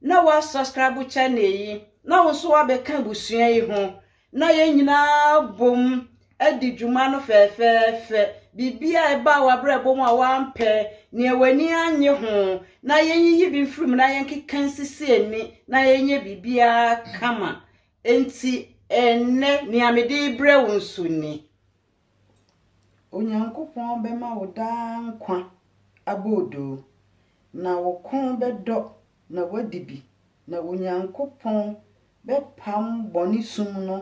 na wa subscribe channel yi na wo nso wabɛka abusua yi ho na yɛn nyinaa bom adi dwuma no fɛɛfɛɛfɛ biribi a ɛba a wabrɛbɔ mu a wampɛ nea w'ani anye ho na yɛnyiyi bi mfiri mu na yɛnkeka nsisi ani na yɛnyɛ biribiara kama enti ɛnnɛ nea mede brɛ wo nso ni Onyankopɔn bɛma wo daa nkwa aboodoo, na wo kɔn bɛdɔ na woadi bi, na Onyankopɔn bɛpam bɔne sum no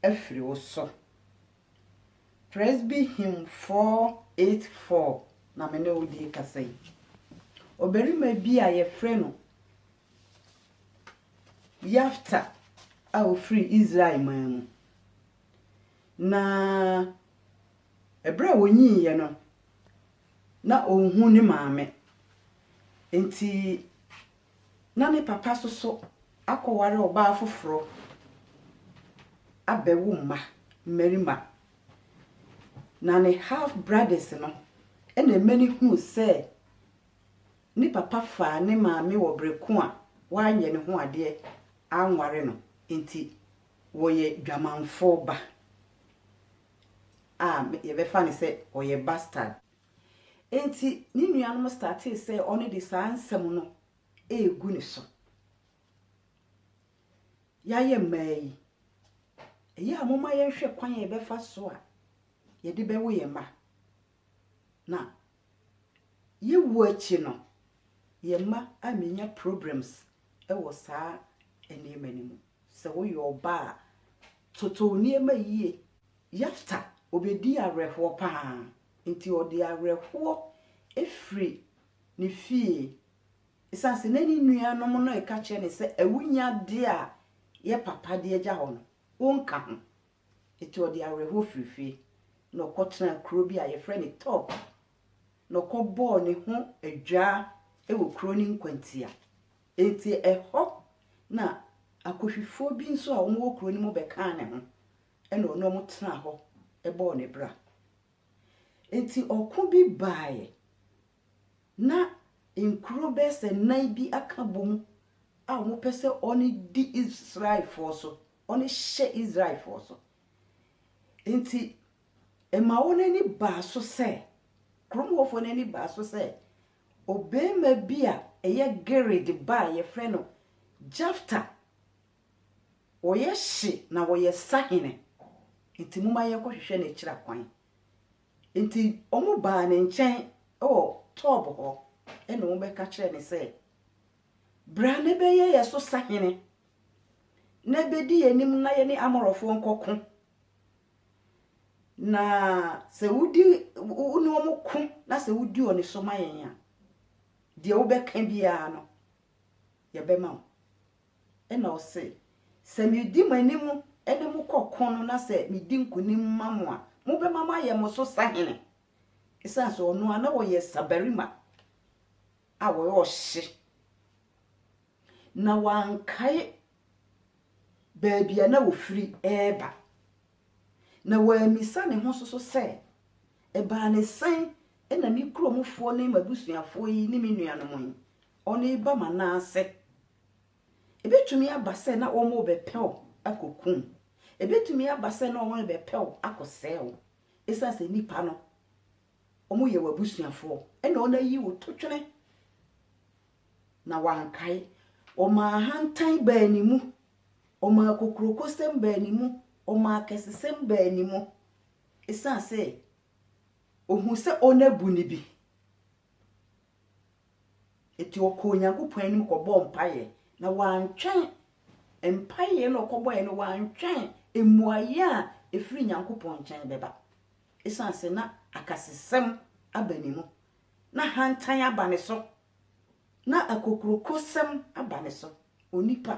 afiri wo so. Presby Hymn 484 na me ne wo de rekasa yi. Ɔbarima bi a yɛfrɛ no Yafta a ɔfiri Israel man mu. Na ɛberɛ a ɔnyiiɛ no, na ɔnhu ne maame. Enti na ne papa nso so akɔware ɔbaa foforɔ abɛwo mma, mmarima. Na ne half brothers no na ɛma no hunu sɛ ne papa faa ne maame wɔ berɛ ko a wanyɛ ne ho adeɛ anware no nti. wɔyɛ dwamanfoɔ ba a yɛbɛfa no sɛ ɔyɛ bastard. Enti ne nuanom startee sɛ ɔno de saa nsɛm no regu ne so. Yɛayɛ mmaa yi, ɛyɛ a momma yɛnhwɛ kwan a yɛbɛfa so a yɛde bɛwo yɛn mma. Na yewu akyi no, yɛn mma ammenya problems wɔ saa nneɛma no mu. Sɛ woyɛ ɔbaa a, toto wo nneɛma yie. Yefta, ɔbɛdii awerɛhoɔ pa ara, nti ɔde awerɛhoɔ firi ne fie. Ɛsiane sɛ na ne nuanom no reka kyerɛ no sɛ awunyadeɛ a yɛ papa de agya hɔ no, ɔnka ho. Enti ɔde awerɛhoɔ firii fie, na ɔkɔtenaa kuro bi a wɔfrɛ no Tob, na ɔkɔbɔɔ ne ho adwaa wɔ kuro no nkwantia. Enti ɛhɔ na Akusifoɔ bi nso a wɔwɔ kuro no mu bɛkaa ne ho, ɛnna ɔne wɔn tenaa hɔ bɔɔ ne bra. Enti ɔko bi baeɛ, na nkuro bɛyɛ sɛ nnan bi aka bɔ mu a wɔpɛ sɛ wɔde di Israelfoɔ so, wɔde hyɛ Israelfoɔ so. Enti, ɛma wɔn ani baa so sɛ, kurom hɔfoɔ no ani baa so sɛ, ɔbarima bi a ɛyɛ Gilead ba a yɛfrɛ no Jefta, ɔyɛ hye na ɔyɛ sahene, enti momma yɛnkɔhwehwɛ no akyiri akwan. Enti wɔbaa ne nkyɛn wɔ Tob hɔ na wɔbɛka kyerɛɛ no sɛ, Bra na bɛyɛ yɛn so sahene, na bɛdi yɛn anim na yɛne Amorɔfoɔ nkɔko, na sɛ wodi wo ne wɔn ko na sɛ wodi wɔn so ma yɛn a, deɛ wobɛka biara no, yɛbɛma wo. Ɛnna ɔse, Sɛ meredi mo anim ne mo kɔ ɔko no na sɛ midi nkonim ma mo a, mobɛma mayɛ mo so sahene. Esiane sɛ ɔno ara na ɔyɛ sabarima a ɔyɛ ɔhye, na wankae baabi a na ofiri reba, na wammisa ne ho nso so sɛ, Ɛbaa ne sɛn na me kuromfoɔ ne m'abusuafoɔ yi ne me nuanom yi ɔreba Manase. Ebetumi aba sɛ na wɔrebɛpɛ wo akokum wo. Ebetumi aba sɛ na wɔrebɛpɛ wo akɔsɛe wo. Esiane sɛ nnipa no, wɔyɛ w'abusuafoɔ, ɛna wɔayi wo totwene, na wankae. Wɔmaa ahantan baa ne mu, wɔmaa kokurokosɛm baa ne mu, wɔmaa akɛsesɛm baa ne mu, esiane sɛ ɔhuu sɛ wɔabu no bi. Enti ɔkɔɔ Onyankopɔn anim kɔbɔɔ mpaeɛ, na wantwɛn, mpaeɛ no a ɔkɔbɔeɛ no, wantwɛn mmuaeɛ a ɛfiri Nyankopɔn nkyɛn bɛba. Ɛsiane sɛ na akasesɛm aba ne mu, na hantan aba ne so, na akokurokosɛm aba ne so. Onipa,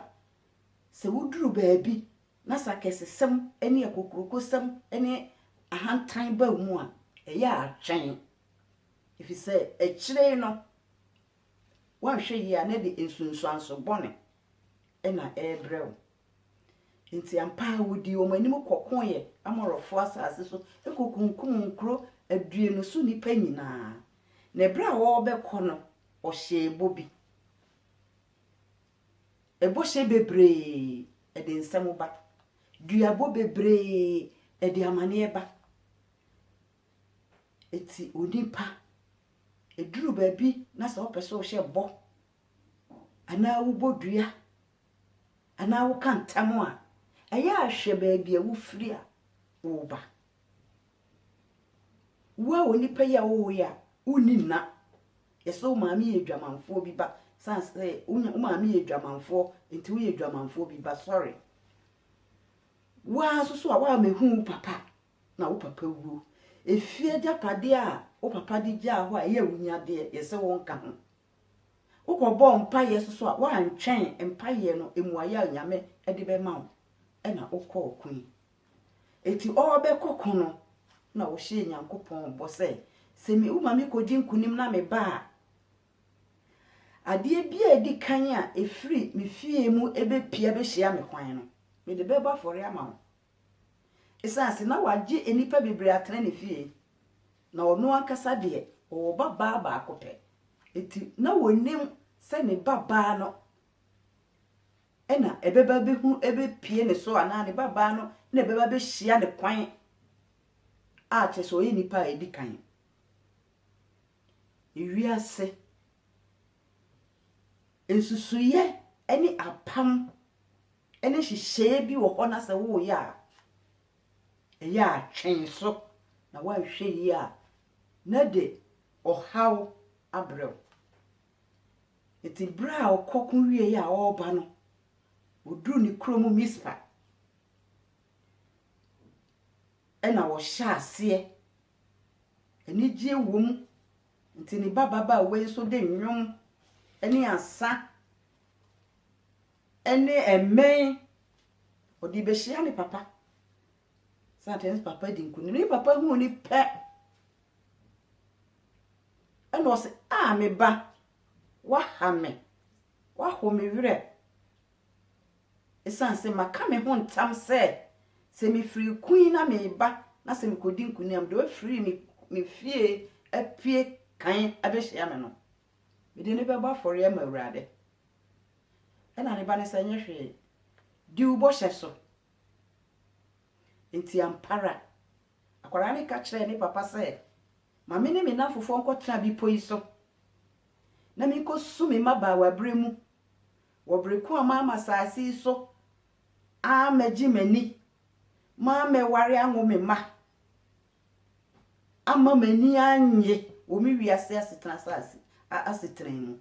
sɛ woduru baabi na sɛ akɛsesɛm ne akokurokosɛm ne ahantan ba wo mu a, ɛyɛ a twɛn. Efisɛ akyiri yi no, woanhwɛ yie a na ɛde nsunsuanso bɔne na ɛrebrɛ wo. Enti ampa ara wodii wɔn anim kɔkoeɛ Amorifo asase so kɔkunkum nkuro aduonu so nnipa nyinaa. Na ɛberɛ a wɔrebɛkɔ no, wɔhyɛɛ bɔ bi. Ɛbɔhyɛ bebree ɛde nsɛm ba. Duabɔ bebree ɛde amaneɛ ba. Enti onipa, ɛduru baabi na sɛ wopɛ sɛ wohyɛ bɔ anaa wobɔ dua anaa woka ntam a, ɛyɛ a hwɛ baabi a wofiri a woreba. Wo a onipa yi a wowoe a, wonni nna. Yɛsɛ wo maame yɛ adwamanfoɔ bi ba. San sɛ wo maame yɛ adwamanfoɔ, nti woyɛ adwamanfoɔ bi ba. Sɔre. Wo ara nso so a woammɛhu wo papa a, na wo papa wuo. Efie agyapadeɛ a wo papa de gyaa hɔ a ɛyɛ wo nyadeɛ, yɛse wo nka ho. Wo kɔ bɔɔ mpaeɛ nso so a, woantwɛn mpaeɛ no mmuaeɛ a Onyame de bɛma wo, ɛna wo kɔ ɔko yi. Eti ɔɔbɛkɔ ko no, na wo hyɛɛ Nyankopɔn bɔ sɛ, sɛ me, wo ma me kɔdi nkunim na me ba a, adeɛ bi a edi kan a efiri me fie mu ɛbɛpie abɛhyia me kwan no, mede bɛbɔ afɔreɛ ama wo, Esiane sɛ na wagye nnipa bebree atena ne fie, na ɔno ankasa deɛ, ɔwɔ babaa baako pɛ nti, na ɔnim sɛ ne babaa no na ɛbɛba abɛhu, ɛbɛpue ne so anaa ne babaa no na ɛbɛba abɛhyia ne kwan a kyerɛ sɛ ɔyɛ nipa a ɛdi kan. Ewiase nsusuiɛ ne apam ne nhyehyɛe bi wɔ hɔ na sɛ woreyɛ a, ɛyɛ a twɛn so, na woanhwɛ yie a, na ɛde ɔhaw abrɛ wo. Enti berɛ a ɔkɔ ko wieeɛ a ɔreba no, ɔduruu ne kurom Mispa, ɛna ɔhyɛɛ aseɛ. Anigyeɛ wom, nti ne ba babaawa yi nso de nnwom ne asa ne mmɛn. Ɔde bɛhyia ne papa. Satan papa di nkunim. Ne papa huu ne pɛ. Ɛna ɔsɛ, a me ba, waha me. Waho me werɛ. Ɛsiane sɛ maka me ho ntam sɛ, sɛ mefiri kun na meba na sɛ mekɔdi nkunim deɛ wafiri me, me fie apue kan abɛhyia me no, Mede no bɛbɔ afɔreɛ ama Awurade. Ɛna ne ba no sɛ, Nyɛ hwee, di wo bɔhyɛ so. Enti ampa ara, akwadaa no ka kyerɛɛ ne papa sɛ, Ma me ne me nnamfofoɔ nkɔtena bepɔ yi so, na menkɔsu me mmabaawaberɛ mu wɔ bere ko a maama asase yi so ammɛgye m'ani, mammɛware anwo me mma. ama m'ani annye wɔ me wiase asetena asase asetena mu.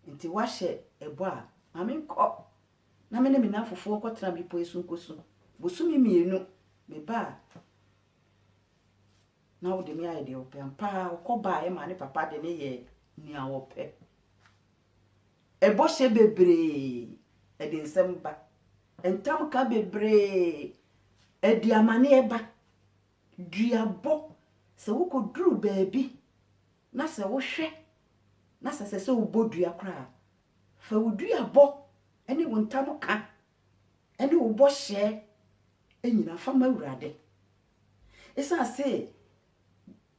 Enti woahyɛ ɛbɔ a, ma menkɔ na me ne me nnamfofoɔ nkɔtena bepɔ yi so nkɔsu. Bosome mmienu meba a, na wode me ayɛ deɛ wopɛ. Ampa ara ɔkɔbaa ɛmaa ne papa de no yɛɛ nea ɔpɛ. Bɔhyɛ bebree, ɛde nsɛm ba. Ntamka bebree, ɛde amaneɛ ba. Duabɔ, sɛ wokɔduru baabi na sɛ wohwɛ na sɛ ɛsɛ sɛ wobɔ dua koraa a, fa wo duabɔ ne wo ntamka ne wo bɔhyɛ nyinaa fa ma Awurade. Ɛsiane sɛ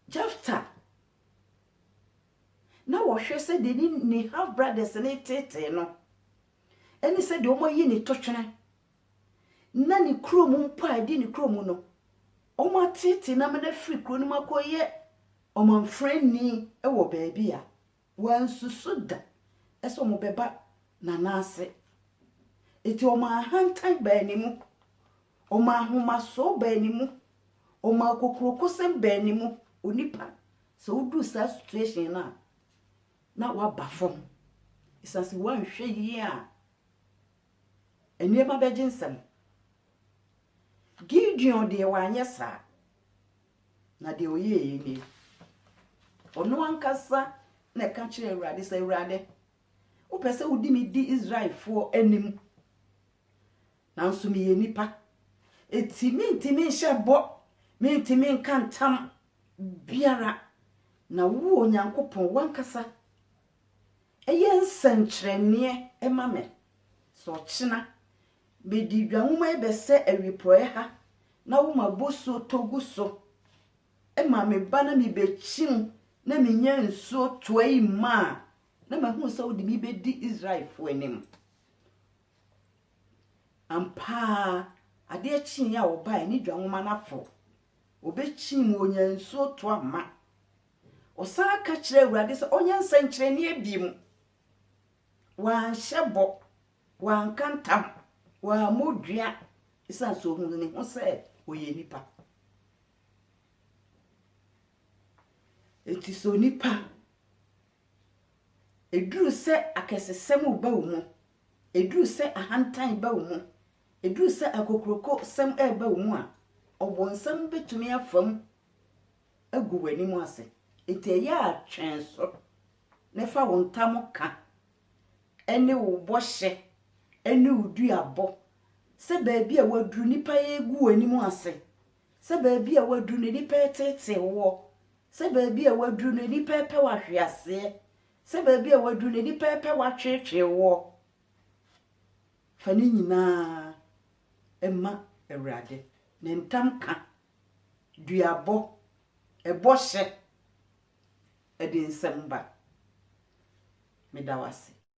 Jefta na ɔhwɛ sɛdeɛ ne ne half brothers no reteetee no ɛne sɛdeɛ wɔayi ne totwene na ne kuro mu mpo a ɛdi ne kuro mu no wɔateetee no ama no afiri kuro no mu akɔyɛ ɔmamfrani wɔ baabi a wansusu da ɛsɛ wɔbɛba n'anan ase eti wɔn ahantan baa ne mu wɔn ahomasoɔ baa ne mu wɔn akokurokosɛm baa ne mu onipa Sɛ woduru saa situation no a, na woaba fam. Esiane sɛ woanhwɛ yie a, nneɛma bɛgye nsam. Gideon deɛ wanyɛ saa, na deɛ ɔyɛeɛ nie. Ɔno ankasa na ɛka kyerɛɛ Awurade sɛ, Awurade, wopɛ sɛ wode me di Israelfoɔ anim, nanso meyɛ nipa. Enti mentumi nhyɛ bɔ, mentumi nka ntam biara, na wo, Onyankopɔn, w'ankasa yɛ nsɛnkyerɛnneɛ ma me. Sɛ ɔkyena mede dwa nwoma yi bɛsɛ awiporɔeɛ ha, na woma bosuo tɔ gu so ma me ba na mebɛkyim na menya nsuo toa yi ma a, na mahunu sɛ wode me bɛdi Israelfoɔ anim. Ampa ara, adeɛ kyeeɛ a wɔbaeɛ ne dwa nwoma no aforo Wɔbɛkyiim wɔnya nsuo tɔ amma. Ɔsan ka kyerɛɛ Awurade sɛ ɔnyɛ nsɛnkyerɛnneɛ biom. Wanhyɛ bɔ, wanka ntam, wammɔ dua, ɛsiane sɛ ɔhunu ne ho sɛ ɔyɛ nipa. Enti sɛ onipa Ɛduru sɛ akɛsesɛm reba wo mu, ɛduru sɛ ahantan reba wo mu, ɛduru sɛ akokurokosɛm reba wo mu a, Ɔbonsam bɛtumi afa mu agu w'anim ase. Enti ɛyɛ a twɛn so na fa wo ntam ka ne wo bɔhyɛ ne wo duabɔ sɛ baabi a woaduru nnipa regu w'anim ase Sɛ baabi a woaduru no nnipa reteetee wo wɔ, sɛ baabi a woaduru no nnipa repɛ wo ahwe aseɛ, sɛ baabi a woaduru no nnipa repɛ wo atweetwee wo wɔ, fa ne nyinaa ma Awurade. Ne ntam ka, duabɔ, ɛbɔ hyɛ, ɛde nsɛm ba. Meda wo ase.